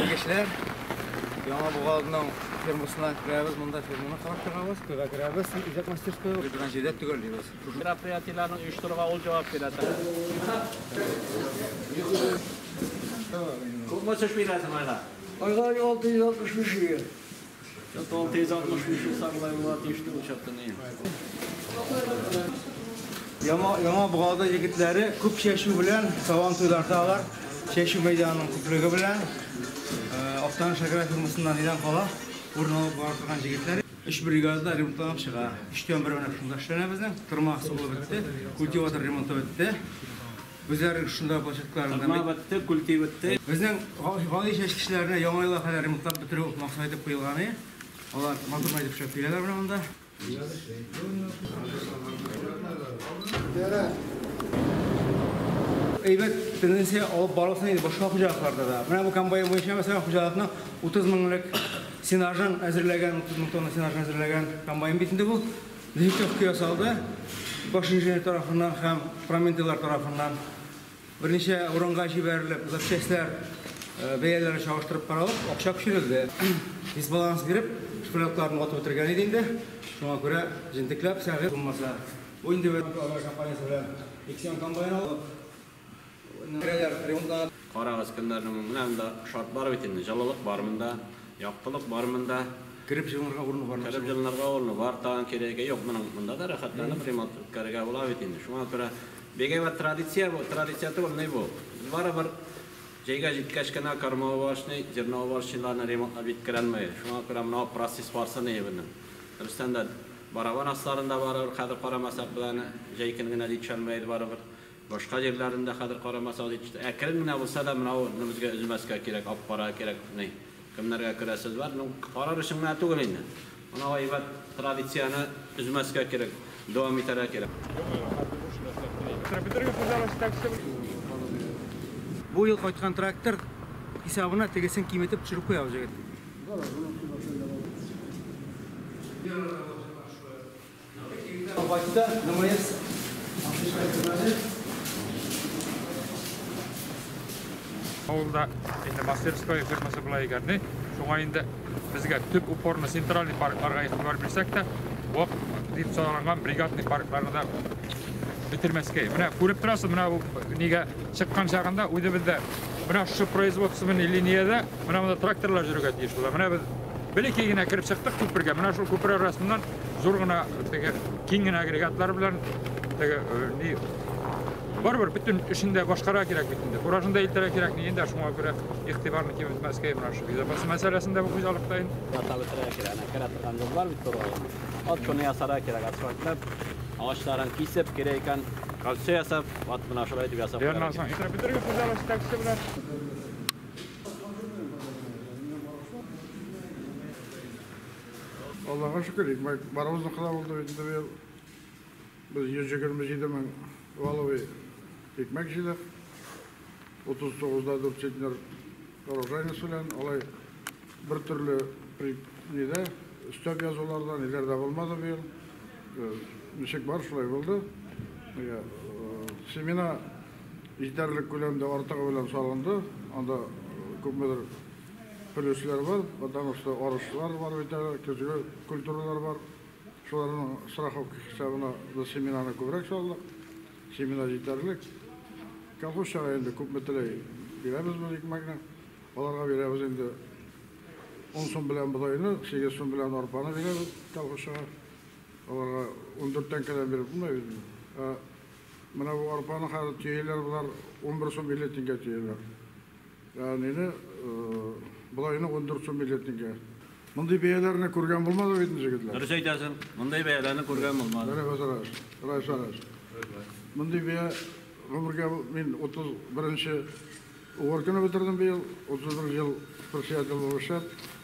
Килгечләр, яңа бугазның фермасына керәбез, монда ферманы карап чыгабыз, көйгә керәбез, үзәк мастерская, биргән җирдә төгәллибез. Мероприятиеләрне оештыруга ул җавап бирә. Күпме төш бирәсең айга? Айга 665 ел. Яңа Богада егетләре күп чәчү белән сабантуйларда алар чәчү мәйданының күплеге белән Актаныш аграр фирмасында нидән кала урын алып бара торган җегетләр. Өч бригада ремонтланып чыга. Өчтән бере менә шунда эшләнә безнең. Тырма сугылып бетте, культиватор ремонты бетте. Үзләренең шунда бачакларын да Тырма бетте, күлти бетте. Безнең гади чәч кешеләренә Яңа елга кадәр ремонтлап бетерү максат итеп куелган иде. Алар матур итеп эшләп бирәләр менә монда. Әйбәт тенденция алып барылсын иде башка хуҗалыкларда да. Менә бу комбайн буенча, мәсәлән, хуҗалыкның 30 меңлек сенажын әзерләгән, 30 мең тонна сенажын әзерләгән комбайн бит инде бу. Винтовка ясалды. Баш инженер тарафыннан һәм проментыйлар тарафыннан берничә урынга җибәрелеп, запчастьләр бәяләре чагыштырып каралып, акча күчерелде. Дисбаланс биреп, шпрякларны ватып бетергән иде инде. Шуңа күрә җентекләп, сәгыйть булмаса, бу инде бер компаниясе белән иксион комбайн алып, Карагыз, көннәрнең менә монда шарт бар бит инде, җылылык бар монда, яктылык бар монда. Кереп җылынырга урыны бар. Кереп җылынырга урыны бар, тагын кирәге юк. Моның монда да рәхәтләнеп ремонт үткәрергә була бит инде. Шуңа күрә бик әйбәт традиция бу, традиция түгел, ни бу. Без барыбер җәйгә җиткәч кенә кормоуборочный, зерноуборочныйларны ремонтлап җиткерәлмәгез. Шуңа күрә менә процесс барсын иде безнең. Дөрестән дә барабан асларында барыбер хәзер карамасак без аны, җәй көн генә җитешәлмәгез барыбер. Башка җирләрендә хәзер карамаса дип чыгып, әкрен генә булса да менә ул безгә өзмәскә кирәк, алып карарга кирәк, ни, кемнәргә керә сүз бар. Ну, карар өчен генә түгел инде. Моны әйбәт традицияне өзмәскә кирәк, дәвам итәргә кирәк. Тракторга хуҗалык җитәкчесе булып. Бу ел кайткан трактор хисабына тегесен киметеп төшереп куя бу җегет. Авылда инде мастерская фирмасы була икән, ни? Шуңа инде безгә төп упорны центральный паркларга игътибар бирсәк тә, вак дип саналган бригадный паркларны да бетермәскә. Менә күреп торасыз, менә бу нигә чыккан чагында үзебездә менә шушы производственный линиядә менә монда тракторлар йөрергә тиеш була. Менә без белеки генә кереп чыктык күпергә. Менә шул күпер арасыннан Зур гына теге киң генә агрегатлар белән теге ни барыбер бөтен эшен дә башкара кирәк бит инде. Куражын да илтәргә кирәк ни инде шуңа күрә игътибарны киметмәскә менә шул безопасность мәсьәләсендә бу хуҗалыкта инде. Ята бетерә кирәк, әнә керә торган юл бар бит тургай. Ат шуны ясарга кирәк, асфальтлап, агачларын кисеп, кире икән кольцо ясап, ат менә шулай итеп ясап. Бәрнә соң итә бетерге хуҗалык җитәкчесе белән. Аллага шөкер, барыбызныкы да булды бит инде быел. Без 127 мең валовый икмәк җыйдык. 39 да 4 центнер урожайность белән алай бер төрле нидә өстәп язуларда ниләр дә булмады быел. Э, ничек бар, шулай булды. Э, семена җитәрлек күләмдә артыгы белән салынды. Анда э, күпмедер Өлешләр бар, потому что арышлар бар бит әле, көзге культуралар бар. Шуларның страховка хисабына без семенаны күбрәк салдык. Семена җитәрлек. Колхозчага инде күпме теләй, бирәбез без икмәкне. Аларга бирәбез инде ун сум белән бодайны, сигез сум белән арпаны бирәбез колхозчага. Аларга ундүрт тәңкәдән биреп булмый бит инде. Ә менә бу арпаны хәзер төяләр болар унбер сум илле тингә төяләр. Әнине болайны ундурцу миллетнигә. Мондый бәяләрне күргән булмады бит җегетләр. Дөрес әйтәсең, мондый бәяләрне күргән булмады. Менә базараш, райсараш. Мондый бәя гомергә мин 31 нче угор көне бетердем быел, 31 ел председатель булып эшләп.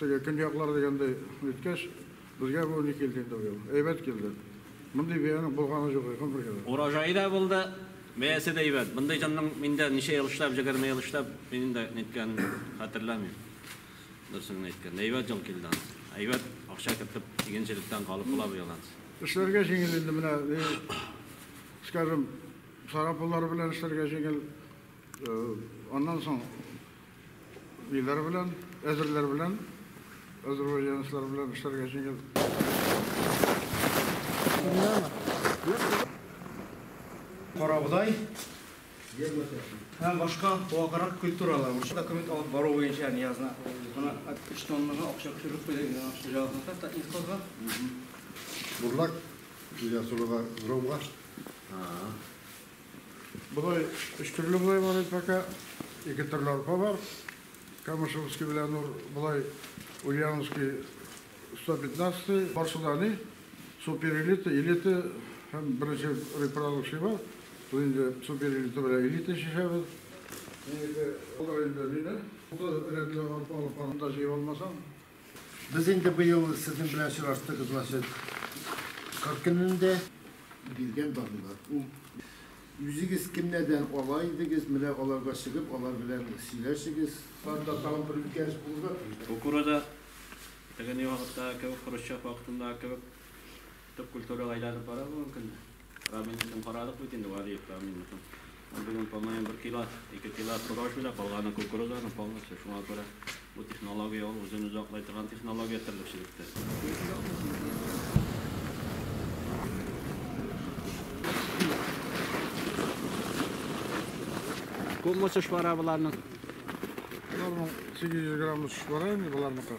Теге көньяклар дигәндәй үткәч, безгә бу ни килде инде быел. Әйбәт килде. Мондый бияне булганы юк иде гомергә дә. Урожае да булды, бәясе дә әйбәт. Мондый җанның мин дә ничә ел эшләп, җегерме ел эшләп, мин инде ниткәнен хәтерләмим. Дөресен генә әйткәндә, әйбәт ел килде анс. Әйбәт акча кертеп, игенчелектән калып була быел анс. Эшләргә җиңел инде менә, ни, скажем, сарапуллар белән эшләргә җиңел. Аннан соң Ниләр белән? Әзерләр белән. Азербайҗанецлар белән эшләргә җиңел. Карабудай һәм башка ваграк культуралар. Бу документ алып бару буенча Ниязны. Моны 3 тоннага акча төшереп куйды инде хуҗалыкны хәтта инфозга. Бурлак, Ильясулыга, Громга. Бодай өч төрле бодай бар инде пока. Ике төрле арпа бар. Камышевский белән ул болай Ульяновский 115, бар Судани, суперэлита, элита һәм беренче репродукция бар. Ул инде суперэлита белән элита чишәбез. Минеке ул инде минем. Бу рәтле арпа алып барганда җыеп алмасаң, Без инде быел сезнең белән очраштык, значит, кыр көнендә. Биргән барлар. Ул Үзегез кемнәрдән ала идегез, менә аларга чыгып, алар белән сөйләшегез. Анда тагын бер үзгәреш булырга тиеш. Кукуруза, тегенең вакыттагы кебек, хрущев вакытындагы кебек төп культурага әйләнеп бара бүгенге көндә. Рамилныкын карадык бит инде, Валиев Рамилныкын. Ул бүген, по-моему, бер килос, ике килос рожь бирә, калганы кукуруза аның полностью. Шуңа күрә бу технология ул үзен-үзе аклый торган технология терлекчелектә. Күпме очыш бара боларның? Боларның 800 грамм очыш бара инде, боларныкы.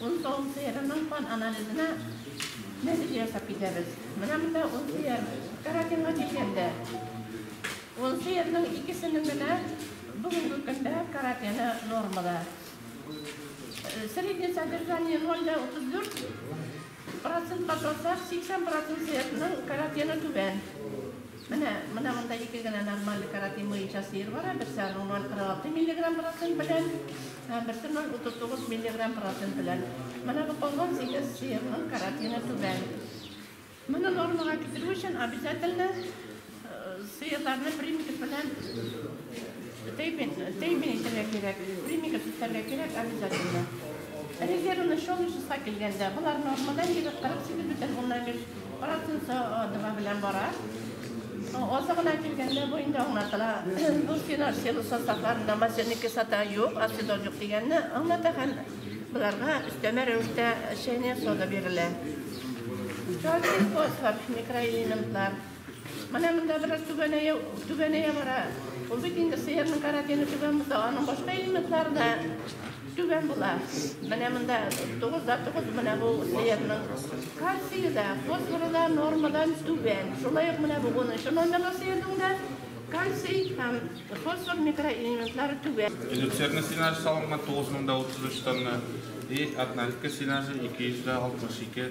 Он тавык сыерының кан анализына нәтиҗә ясап китәбез. Менә монда он сыер карантинга килгәндә, он сыерның икесенең генә бүгенге көндә каротины нормада. Среднее содержание ноль дә утыз дүрт процентка салсак, сиксән процент сыерның каротины түбән. Менә, менә монда ике генә нормаль каротин буенча сыер бара, берсе аның ноль кырык алты миллиграмм процент белән. Һәм берсе ноль утыз тугыз миллиграмм процент белән. Менә бу калган сигез сыерның каротины түбән. Моны нормага китерү өчен обязательно сыерларны примикс белән тәймин, тәймин итәргә кирәк. Примикс итәргә кирәк обязательно. Резервный шел числа килгәндә, болар нормадан егет 48 бөтен уннан биш Арасында адыма белән бара. Азы гына килгәндә бу инде аңлатыла. Бу финансил составларында матерный кислота юк, ацидон юк дигәнне аңлата һәм боларга өстәмә рәвештә чәйнек сода бирелә. Кальций, фосфор, микроэлементлар. Менә монда бераз түбәнәя, түбәнәя бара. Ул бит инде сыерның каротины түбән булса, аның башка элементлары да Түбән була. Менә монда 9 да 9 менә бу сыерның кальцие да, фосфоры да нормадан түбән. Шулай ук менә бу 10 номерлы сыерның да кальций һәм фосфор микроэлементлары түбән. Эликсирный сенаж салынган 9033 тонна и однолитка сенажы 262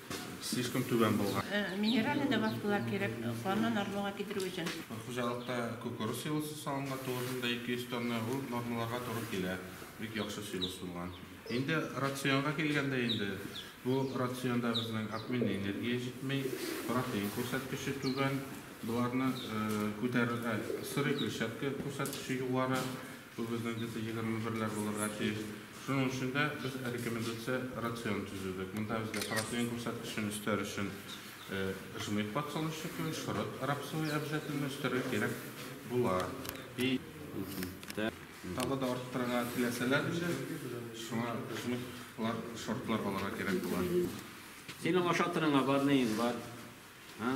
Слишком түбән булган. Минеральный добавкалар кирәк, канны нормага китерү өчен. Хуҗалыкта кукуруз силосы салынган, тугызында 200 тонна, ул нормаларга туры килә, бик яхшы силос булган. Инде рационга килгәндә инде, бу рационда безнең обменный энергия җитми, протеин күрсәткече түбән, боларны күтәрергә, сырый клетчатка күрсәткече югары, Бу безнең где-то егерме берләр булырга тиеш. Шуның өчен дә без рекомендация рацион төзедек. Монда безгә протеин күрсәткечен өстәр өчен жмых подсолнечникы, шорыт рапсовый обязательно өстәргә кирәк була. И тагы да арттырырга теләсәләр инде, шуңа жмыхлар, шортлар алырга кирәк була. Синең ашатырыңа бар, неең бар? А?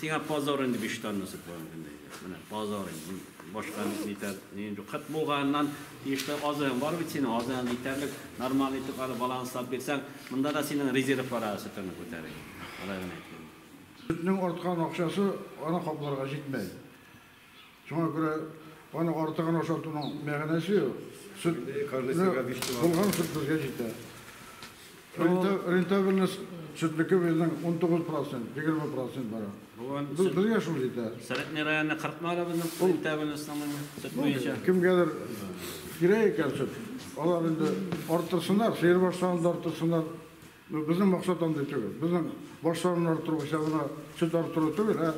Сиңа позор инде биш тонна сөт барын көнле әйдәп. Менә позор инде. Башка нитәр, ни инде. Кыт булганнан тиешле азыгың бар бит синең, азыгың җитәрлек, нормальный итеп ары баланс салып бирсәң, монда да синең резервлар ары сөтеңне күтәрер. Алай гына әйткән. Сөтнең арткан акчасы аны капларга җитмәй. Шуңа күрә аның артыгын ашатуның мәгънәсе юк. Сөт, булган сөт безгә җитә. Рентабельность сөтнеке безнең 19%, 20% бара. Безгә шул җитә. Сорокный районы кырыкны ала безнең рентабельностьның сөт буенча. Кемгәдер кирәк икән сөт, алар инде арттырсыннар, сыер башларын да арттырсыннар. Безнең максат андый түгел. Безнең баш санын арттыру буенча гына сөт арттыру түгел, ә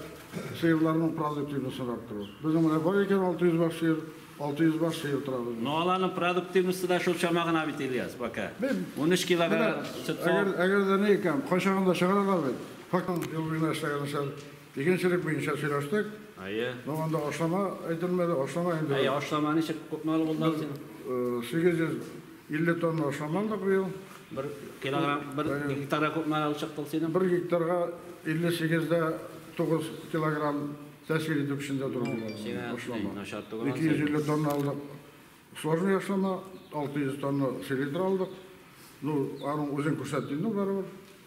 сыерларның продуктивностен арттыру. Безнең менә бар икән 600 баш сыер, 600 баш сыер тора безнең. Ну аларның продуктивносте да шул чама гына бит, Ильяс, пока. Унөч килограмм сөт савып. Әгәр дә ни икән, кайчагында чыгаралар бит. Ел буена эшләгән эшләр. Игенчелек буенча сөйләштек. Әйе. Ну, анда ашлама әйтелмәде, ашлама инде. Әйе, ашлама ничек купмалы булды ул синең? 850 тонна ашлама алдык быел. Бер килограмм, бер гектарга купмалы ул чыкты ул синең? Бер гектарга 58 дә 9 килограмм тәэсир итү көчендә тора бу ашлама. 250 тонна алдык сложный ашлама, 600 тонна селитра алдык. Ну, аның үзен күрсәтте инде барыбер.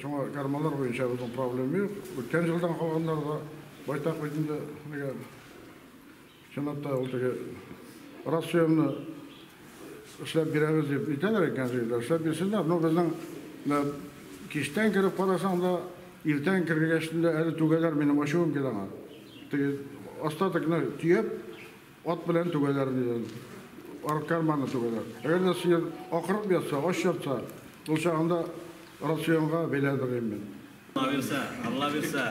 Шуңа гармоннар буенча безнең проблем юк. Үткән җылдан калганнар да байтак бит инде. Нигә? Чынлап та ул теге рас сөемне эшләп бирәбез дип әйтәләр икән җирдә. Эшләп бирсеннәр. Ну, безнең киштән кереп карасаң да, иртән кергәч тә әле түгәләр минем ачуым килә аңа. Теге остатокны төяп, Ат белән түгәләр, дигән. Арка арманы түгәләр. Әгәр дә сыер акырып ятса, ач ятса, ул чагында рационга бәйләр, дигән мин. Алла бирсә, Алла бирсә.